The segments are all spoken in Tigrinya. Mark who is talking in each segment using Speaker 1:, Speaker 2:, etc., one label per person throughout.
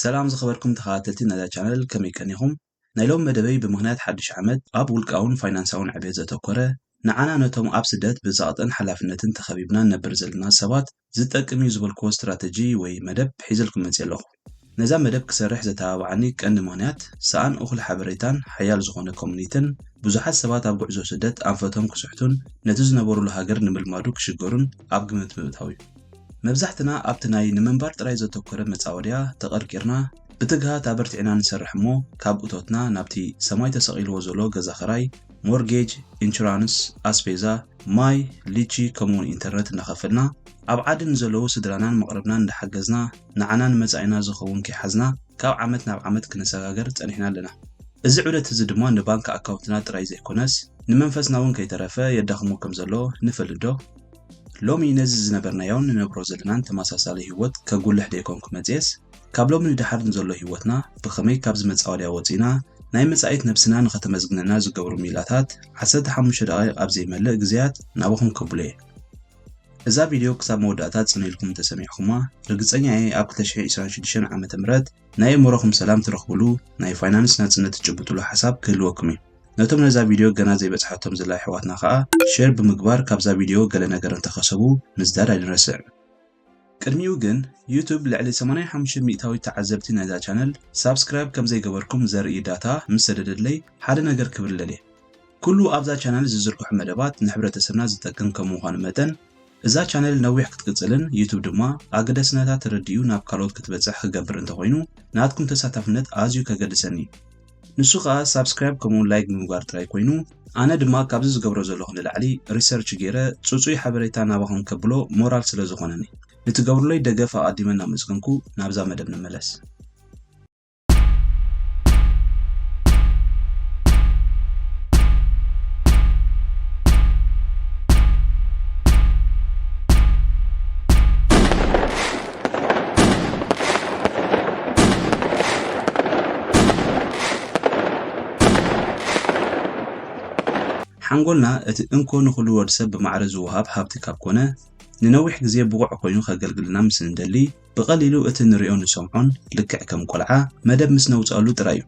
Speaker 1: ሰላም ዝኸበርኩም ተኸታተልቲ ናይዛ ቻነል ከመይ ቀኒኹም? ናይ ሎሚ መደበይ ብምኽንያት ሓዱሽ ዓመት ኣብ ውልቃውን ፋይናንሳውን ዕብየት ዘተኮረ ንዓና ነቶም ኣብ ስደት ብጸቕጥን ሓላፍነትን ተኸቢብና ንነብር ዘለና ሰባት ዝጠቅም እዩ ዝበልክዎ ስትራተጂ ወይ መደብ ሒዘልኩም መጺኤ ኣለኹ። ነዛ መደብ ክሰርሕ ዘተባብዓኒ ቀንዲ ምኽንያት፣ ሰኣን እኹል ሓበሬታን ሓያል ዝኾነ ኮሚኒትን፣ ብዙሓት ሰባት ኣብ ጉዕዞ ስደት ኣንፈቶም ክስሕቱን ነቲ ዝነበሩሉ ሃገር ንምልማዱ ክሽገሩን ኣብ ግምት ምእታው እዩ። መብዛሕትና ኣብቲ ናይ ንምንባር ጥራይ ዘተኮረ መጻወድያ ተቐርቂርና፣ ብትግሃት ኣበርቲዕና ንሰርሕ እሞ ካብ እቶትና ናብቲ ሰማይ ተሰቒልዎ ዘሎ ገዛ ክራይ፣ ሞርጌጅ፣ ኢንሹራንስ፣ ኣስፔዛ፣ ማይ፣ ሊቺ ከምኡ'ውን ኢንተርነት እናኸፈልና፣ ኣብ ዓዲ ንዘለዉ ስድራናን መቕርብናን እንዳሓገዝና፣ ንዓና ንመጻኢና ዝኸውን ከይሓዝና ካብ ዓመት ናብ ዓመት ክነሰጋግር ጸኒሕና ኣለና። እዚ ዑደት እዚ ድማ ንባንክ ኣካውንትና ጥራይ ዘይኮነስ ንመንፈስና እውን ከይተረፈ የዳኽሞ ከም ዘሎ ንፈልጥዶ? ሎሚ ነዚ ዝነበርናዮን ንነብሮ ዘለናን ተመሳሳሊ ህይወት ከጉልሕ ደይኮንኩ መጺኤስ፣ ካብ ሎሚ ንደሓር ንዘሎ ህይወትና ብኸመይ ካብዚ መጻወድያ ወጺእና ናይ መጻኢት ነብስና ንኸተመስግነና ዝገብሩ ሚላታት ዓሰርተ ሓሙሽተ ደቓይቕ ኣብ ዘይመልእ ግዜያት ናባኹም ከብሎ እየ። እዛ ቪድዮ ክሳብ መወዳእታ ጽን ኢልኩም እንተሰሚዕኹማ ርግጸኛ እየ ኣብ 2026 ዓመተ ምህረት ናይ እምሮኹም ሰላም ትረኽብሉ ናይ ፋይናንስ ናጽነት ትጭብጥሉ ሓሳብ ክህልወኩም እዩ። ነቶም ነዛ ቪድዮ ገና ዘይበጽሓቶም ዘላ ኣሕዋትና ከኣ ሼር ብምግባር ካብዛ ቪድዮ ገለ ነገር እንተኸሰቡ ምዝዳድ ኣይንረስዕ። ቅድሚኡ ግን ዩቱብ ልዕሊ ሰማንያ ሓሙሽተ ሚእታዊት ተዓዘብቲ ናይዛ ቻነል ሳብስክራይብ ከምዘይገበርኩም ዘርኢ ዳታ ምስ ሰደደለይ ሓደ ነገር ክብል ደልየ። ኩሉ ኣብዛ ቻነል ዝዝርግሑ መደባት ንሕብረተሰብና ዝጠቅም ከም ምዃኑ መጠን እዛ ቻነል ነዊሕ ክትቅጽልን ዩቱብ ድማ ኣገዳስነታ ተረዲኡ ናብ ካልኦት ክትበጽሕ ክገብር እንተኾይኑ ናትኩም ተሳታፍነት ኣዝዩ ከገድሰኒ እዩ። ንሱ ከኣ ሳብስክራይብ ከምኡውን ላይክ ብምግባር ጥራይ ኮይኑ ኣነ ድማ ካብዚ ዝገብሮ ዘለኹ ንላዕሊ ሪሰርች ጌረ ጽጹይ ሓበሬታ ናባኹም ከብሎ ሞራል ስለ ዝኾነኒ ንትገብሩለይ ደገፍ ኣቐዲመ እናመስገንኩ ናብዛ መደብ ንመለስ። ሓንጎልና እቲ እንኮ ንኹሉ ወድ ሰብ ብማዕረ ዝወሃብ ሃብቲ ካብ ኮነ፣ ንነዊሕ ግዜ ብቑዕ ኮይኑ ከገልግልና ምስ እንደሊ፣ ብቐሊሉ እቲ ንርእዮን ንሰምዖን ልክዕ ከም ቆልዓ መደብ ምስ ነውጽኣሉ ጥራይ እዩ።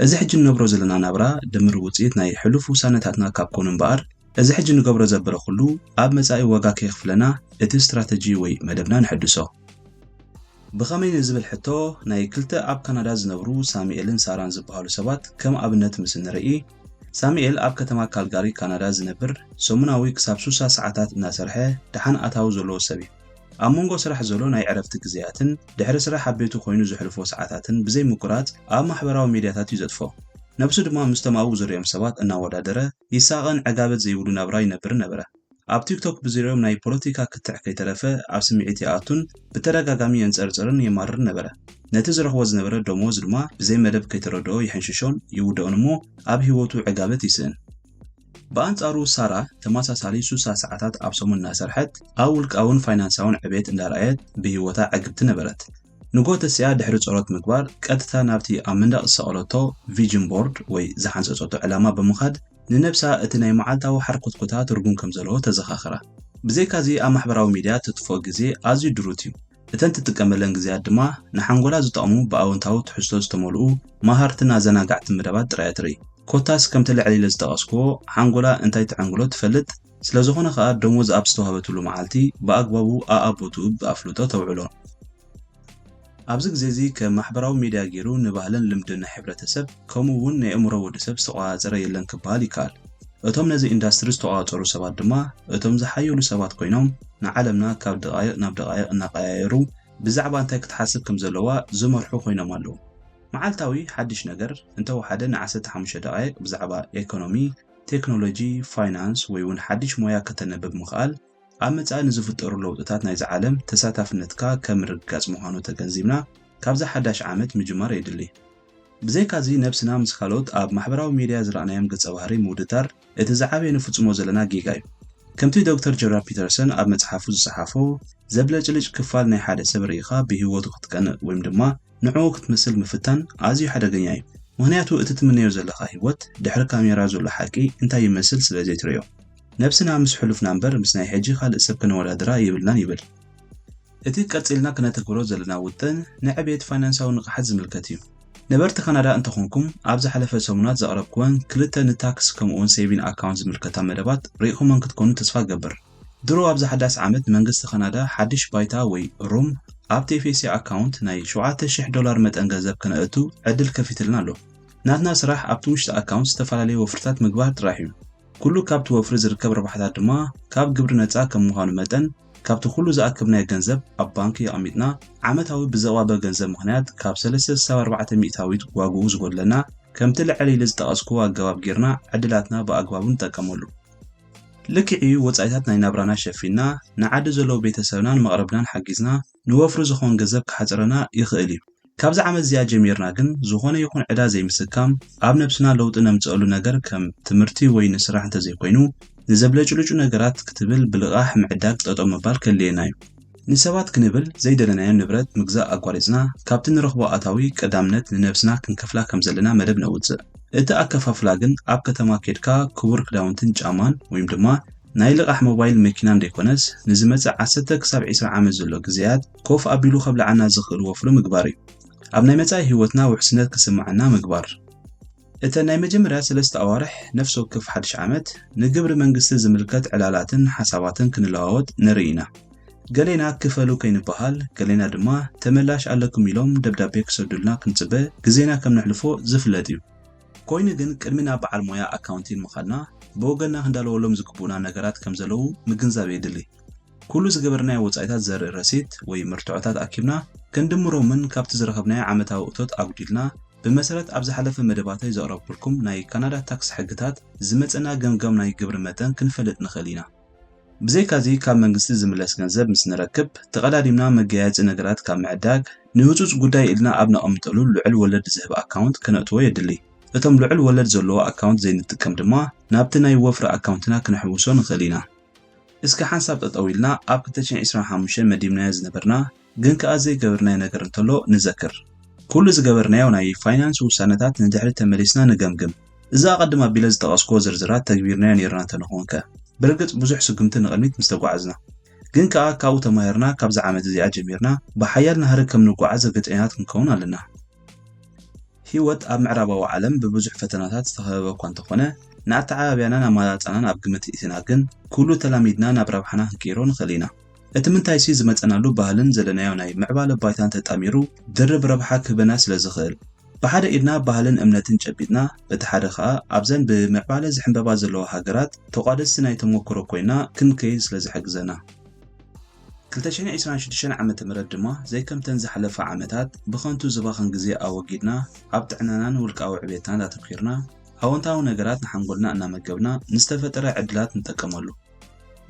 Speaker 1: እዚ ሕጂ ንነብሮ ዘለና ናብራ ድምር ውጽኢት ናይ ሕሉፍ ውሳነታትና ካብ ኮኑ እምበኣር፣ እዚ ሕጂ ንገብሮ ዘበረ ኩሉ ኣብ መጻኢ ዋጋ ከየኽፍለና እቲ ስትራተጂ ወይ መደብና ነሐድሶ። ብኸመይ ንዝብል ሕቶ ናይ ክልተ ኣብ ካናዳ ዝነብሩ ሳሙኤልን ሳራን ዝበሃሉ ሰባት ከም ኣብነት ምስ እንርኢ፣ ሳሙኤል ኣብ ከተማ ካልጋሪ ካናዳ ዝነብር ሰሙናዊ ክሳብ ሱሳ ሰዓታት እናሰርሐ ደሓን ኣታዊ ዘለዎ ሰብ እዩ። ኣብ መንጎ ስራሕ ዘሎ ናይ ዕረፍቲ ግዜያትን ድሕሪ ስራሕ ኣብ ቤቱ ኮይኑ ዘሕልፎ ሰዓታትን ብዘይ ምቁራጽ ኣብ ማሕበራዊ ሜድያታት እዩ ዘጥፍኦ። ነብሱ ድማ ምስቶም ኣብኡ ዝርእዮም ሰባት እናወዳደረ ይሳቐን ዕጋበት ዘይብሉ ናብራ ይነብርን ነበረ። ኣብ ቲክቶክ ብዝሪኦም ናይ ፖለቲካ ክትዕ ከይተረፈ ኣብ ስምዒት ይኣቱን ብተደጋጋሚ የንጸርጽርን የማርርን ነበረ። ነቲ ዝረኽቦ ዝነበረ ደሞዝ ድማ ብዘይ መደብ ከይተረድኦ ይሕንሽሾን ይውድኦን እሞ ኣብ ህይወቱ ዕጋበት ይስእን። ብኣንጻሩ ሳራ ተመሳሳሊ ሱሳ ሰዓታት ኣብ ሰሙን እናሰርሐት ኣብ ውልቃውን ፋይናንሳውን ዕቤት እንዳርኣየት ብህይወታ ዕግብቲ ነበረት። ንግሆ ተሲኣ ድሕሪ ጸሎት ምግባር፣ ቀጥታ ናብቲ ኣብ መንደቕ ዝሰቐለቶ ቪጅን ቦርድ ወይ ዝሓንጸጸቶ ዕላማ ብምኻድ፣ ንነብሳ እቲ ናይ መዓልታዊ ሓርኮትኮታ ትርጉም ከም ዘለዎ ተዘኻኽራ። ብዘይካዚ ኣብ ማሕበራዊ ሚድያ እተጥፍኦ ግዜ ኣዝዩ ድሩት እዩ፣ እተን ትጥቀመለን ግዜያት ድማ ንሓንጎላ ዝጠቕሙ ብኣወንታዊ ትሕዝቶ ዝተመልኡ መሃርትን ኣዘናጋዕትን መደባት ጥራይ እያ ትርኢ። ኮታስ ከምቲ ልዕል ኢለ ዝጠቐስክዎ ሓንጎላ እንታይ ተዐንግሎ ትፈልጥ፣ ስለዝኾነ ከኣ ደሞዝ ኣብ ዝተዋህበትሉ መዓልቲ ብኣግባቡ ኣኣብ ቦትኡ ብኣፍልጦ ተውዕሎ። ኣብዚ ግዜ እዚ ከም ማሕበራዊ ሜድያ ጌሩ ንባህልን ልምድን ናይ ሕብረተሰብ ከምኡ እውን ናይ ኣእምሮ ወድሰብ ዝተቆጻጸረ የለን ክበሃል ይከኣል። እቶም ነዚ ኢንዳስትሪ ዝተቆጻጸሩ ሰባት ድማ እቶም ዝሓየሉ ሰባት ኮይኖም ንዓለምና ካብ ደቓይቕ ናብ ደቓይቕ እናቐያየሩ ብዛዕባ እንታይ ክትሓስብ ከም ዘለዋ ዝመርሑ ኮይኖም ኣለዉ። መዓልታዊ ሓድሽ ነገር እንተወሓደ ንዓሰርተ ሓሙሽተ ደቓይቕ ብዛዕባ ኤኮኖሚ፣ ቴክኖሎጂ፣ ፋይናንስ ወይ እውን ሓድሽ ሞያ ከተንብብ ምኽኣል፣ ኣብ መጻኢ ንዝፍጠሩ ለውጥታት ናይዛ ዓለም ተሳታፍነትካ ከም ምርግጋጽ ምዃኑ ተገንዚብና ካብዛ ሓዳሽ ዓመት ምጅማር የድሊ። ብዘይካዚ ነብስና ምስ ካልኦት ኣብ ማሕበራዊ ሜድያ ዝረኣናዮም ገጸ ባህሪ ምውድዳር እቲ ዝዓበየ ንፍጽሞ ዘለና ጌጋ እዩ። ከምቲ ዶክተር ጆርዳን ፒተርሰን ኣብ መጽሓፉ ዝጸሓፎ፣ ዘብለጭልጭ ክፋል ናይ ሓደ ሰብ ርኢኻ ብህይወቱ ክትቀንእ ወይም ድማ ንዕኡ ክትመስል ምፍታን ኣዝዩ ሓደገኛ እዩ፣ ምኽንያቱ እቲ ትምነዮ ዘለኻ ህይወት ድሕሪ ካሜራ ዘሎ ሓቂ እንታይ ይመስል ስለ ዘይትርእዮ። ነብስና ምስ ሕሉፍና እምበር ምስ ናይ ሕጂ ካልእ ሰብ ከነወዳድራ የብልናን ይብል። እቲ ቀጺልና ክነተግብሮ ዘለና ውጥን ንዕብየት ፋይናንሳዊ ንቕሓት ዝምልከት እዩ። ነበርቲ ካናዳ እንተኾንኩም ኣብ ዝሓለፈ ሰሙናት ዘቕረብክወን ክልተ ንታክስ ከምኡ'ውን ሴቪን ኣካውንት ዝምልከታ መደባት ርኢኹመን ክትኮኑ ተስፋ እገብር። ድሮ ኣብዛ ሓዳስ ዓመት ንመንግስቲ ካናዳ ሓድሽ ባይታ ወይ ሩም ኣብ ቴፌሴ ኣካውንት ናይ ሸውዓተ ሽሕ ዶላር መጠን ገንዘብ ከነእቱ ዕድል ከፊትልና ኣሎ። ናትና ስራሕ ኣብቲ ውሽጢ ኣካውንት ዝተፈላለዩ ወፍርታት ምግባር ጥራሕ እዩ። ኩሉ ካብቲ ወፍሪ ዝርከብ ረብሓታት ድማ ካብ ግብሪ ነጻ ከም ምዃኑ መጠን ካብቲ ኩሉ ዝኣከብናዮ ገንዘብ ኣብ ባንኪ ኣቐሚጥና ዓመታዊ ብዘቕባበ ገንዘብ ምኽንያት ካብ ሰለስተ ክሳብ ኣርባዕተ ሚእታዊት ዋግኡ ዝጎድለና ከምቲ ልዕል ኢሊ ዝጠቐስክዎ ኣገባብ ጌርና ዕድላትና ብኣግባቡ ንጠቀመሉ። ልክዕ'ዩ ወጻኢታት ናይ ናብራና ሸፊንና ንዓዲ ዘለዉ ቤተ ሰብናን መቕርብናን ሓጊዝና ንወፍሪ ዝኸውን ገዘብ ክሓጽረና ይኽእል'ዩ። ካብዛ ዓመት እዚኣ ጀሚርና ግን ዝኾነ ይኹን ዕዳ ዘይምስካም፣ ኣብ ነብስና ለውጢ ነምጽኣሉ ነገር ከም ትምህርቲ ወይ ንስራሕ እንተዘይኮይኑ ንዘብለጭልጩ ነገራት ክትብል ብልቓሕ ምዕዳግ ጠጠው ምባል ከድልየና'ዩ። ንሰባት ክንብል ዘይደለናዮ ንብረት ምግዛእ ኣቋሪጽና ካብቲ ንረኽቦ ኣታዊ ቀዳምነት ንነብስና ክንከፍላ ከም ዘለና መደብ ነውጽእ። እቲ ኣከፋፍላ ግን ኣብ ከተማ ኬድካ ክቡር ክዳውንትን ጫማን ወይም ድማ ናይ ልቓሕ ሞባይል መኪናን ደይኮነስ ንዝመጽእ ዓሰርተ ክሳብ ዕስራ ዓመት ዘሎ ግዘያት ኮፍ ኣቢሉ ከብልዓና ዝኽእል ወፍሪ ምግባር እዩ። ኣብ ናይ መጻኢ ህይወትና ውሕስነት ክስምዓና ምግባር። እተን ናይ መጀመርያ ሰለስተ ኣዋርሕ ነፍሲ ወከፍ ሓድሽ ዓመት፣ ንግብሪ መንግስቲ ዝምልከት ዕላላትን ሓሳባትን ክንለዋወጥ ንርኢ ኢና። ገሌና ክፈሉ ከይንበሃል፣ ገሌና ድማ ተመላሽ ኣለኩም ኢሎም ደብዳቤ ክሰዱልና ክንጽበ ግዜና ከም ነሕልፎ ዝፍለጥ እዩ። ኮይኑ ግን ቅድሚ ናብ በዓል ሞያ ኣካውንቲን ምኻድና፣ ብወገንና ክንዳለወሎም ዝግብኡና ነገራት ከም ዘለዉ ምግንዛብ የድሊ። ኩሉ ዝገበርናዮ ወጻኢታት ዘርኢ ረሲት ወይ መርትዖታት ኣኪብና ክንድምሮምን ካብቲ ዝረኸብናዮ ዓመታዊ እቶት ኣጉዲልና ብመሰረት ኣብ ዝሓለፈ መደባተይ ዘቕረብኩልኩም ናይ ካናዳ ታክስ ሕግታት ዝመጸና ገምጋም ናይ ግብሪ መጠን ክንፈልጥ ንኽእል ኢና። ብዘይካዚ ካብ መንግስቲ ዝምለስ ገንዘብ ምስ ንረክብ ተቐዳዲምና መገያየጺ ነገራት ካብ ምዕዳግ ንህጹጽ ጉዳይ ኢልና ኣብ ነቐምጠሉ ልዑል ወለድ ዝህብ ኣካውንት ክነእትዎ የድሊ። እቶም ልዑል ወለድ ዘለዎ ኣካውንት ዘይንጥቀም ድማ ናብቲ ናይ ወፍሪ ኣካውንትና ክነሕውሶ ንኽእል ኢና። እስከ ሓንሳብ ጠጠው ኢልና ኣብ ክልተ ሽሕ ዒስራን ሓሙሽተን መዲብናዮ ዝነበርና ግን ከኣ ዘይገበርናዮ ነገር እንተሎ ንዘክር። ኩሉ ዝገበርናዮ ናይ ፋይናንስ ውሳነታት ንድሕሪት ተመሊስና ንገምግም። እዚ ኣቐድም ኣቢለ ዝጠቐስኩዎ ዝርዝራት ተግቢርናዮ ኔርና እንተንኾንከ? ብርግጽ ብዙሕ ስጉምቲ ንቕድሚት ምስ ተጓዓዝና። ግን ከኣ ካብኡ ተማሂርና ካብዛ ዓመት እዚኣ ጀሚርና ብሓያል ናህሪ ከም ንጓዓዝ ርግጸኛታት ክንከውን ኣለና። ህይወት ኣብ ምዕራባዊ ዓለም ብብዙሕ ፈተናታት ዝተኸበበ እኳ እንተኾነ፣ ንኣተዓባብያናን ኣመራርጻናን ኣብ ግምት እእቲና ግን ኩሉ ተላሚድና ናብ ረብሓና ክንቅይሮ ንኽእል ኢና። እቲ ምንታይሲ ዝመጸናሉ ባህልን ዘለናዮ ናይ ምዕባለ ባይታን ተጣሚሩ ድርብ ረብሓ ክህበና ስለ ዝኽእል። ብሓደ ኢድና ባህልን እምነትን ጨቢጥና በቲ ሓደ ከኣ ኣብዘን ብምዕባለ ዝሕምበባ ዘለዋ ሃገራት ተቋደስቲ ናይ ተሞክሮ ኮይና ክንከይድ ስለ ዝሕግዘና። ክልተ ሽሕን ዒስራን ሽዱሽተን ዓመተ ምህረት ድማ ዘይከምተን ዝሓለፋ ዓመታት ብኸንቱ ዝባኽን ግዜ ኣወጊድና ኣብ ጥዕናናን ውልቃዊ ዕቤትናን ኣተኲርና ኣወንታዊ ነገራት ንሓንጎልና እናመገብና ንዝተፈጠረ ዕድላት ንጠቀመሉ።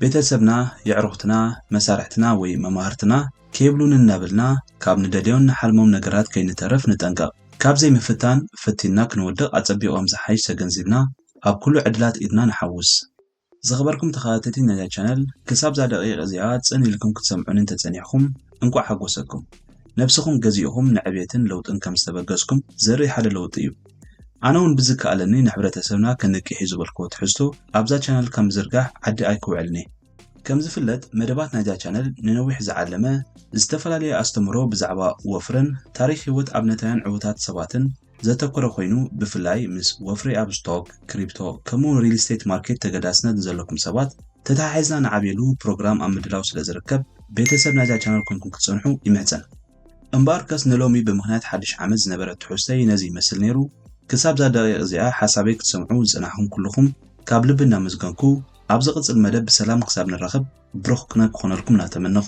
Speaker 1: ቤተሰብና፣ የዕሩኽትና፣ መሳርሕትና ወይ መማህርትና ከይብሉኒ እናበልና ካብ ንደልዮን ንሓልሞም ነገራት ከይንተርፍ ንጠንቀቕ። ካብ ዘይምፍታን ፈቲንና ክንወድቕ ኣጸቢቖም ዝሓይሽ ተገንዚብና ኣብ ኩሉ ዕድላት ኢድና ንሓውስ። ዝኸበርኩም ተኸታተልቲ ናይዛ ቻነል ክሳብዛ ደቒቕ እዚኣ ጽን ኢልኩም ክትሰምዑኒ እንተጸኒሕኩም እንቋዕ ሓጎሰኩም። ነብስኹም ገዚእኹም ንዕብየትን ለውጥን ከም ዝተበገስኩም ዘርኢ ሓደ ለውጢ እዩ። ኣነ ውን ብዝከኣለኒ ንሕብረተሰብና ክንቅሕ እዩ ዝበልክዎ ትሕዝቶ ኣብዛ ቻነል ካብ ምዝርጋሕ ዓዲ ኣይክውዕልን እየ። ከምዝፍለጥ መደባት ናይዛ ቻነል ንነዊሕ ዝዓለመ ዝተፈላለየ ኣስተምህሮ ብዛዕባ ወፍርን ታሪኽ ህይወት ኣብነታውያን ዕውታት ሰባትን፣ ዘተኮረ ኮይኑ ብፍላይ ምስ ወፍሪ ኣብ ስቶክ፣ ክሪፕቶ ከምኡውን ሪል ስቴት ማርኬት ተገዳስነት ንዘለኩም ሰባት ተተሓሒዝና ንዓብየሉ ፕሮግራም ኣብ ምድላው ስለ ዝርከብ ቤተሰብ ናይዛ ቻነል ኮንኩም ክትጸንሑ ይምሕጸን። እምበኣርከስ ንሎሚ ብምኽንያት ሓድሽ ዓመት ዝነበረ ትሕዝቶይ ነዚ ይመስል ነይሩ። ክሳብዛ ደቒቕ እዚኣ ሓሳበይ ክትሰምዑ ዝጸናሕኩም ኩሉኹም ካብ ልቢ እናመስገንኩ ኣብ ዝቕጽል መደብ ብሰላም ክሳብ ንራኸብ ብሩኽ ቅነ ክኾነልኩም እናተመነኹ፣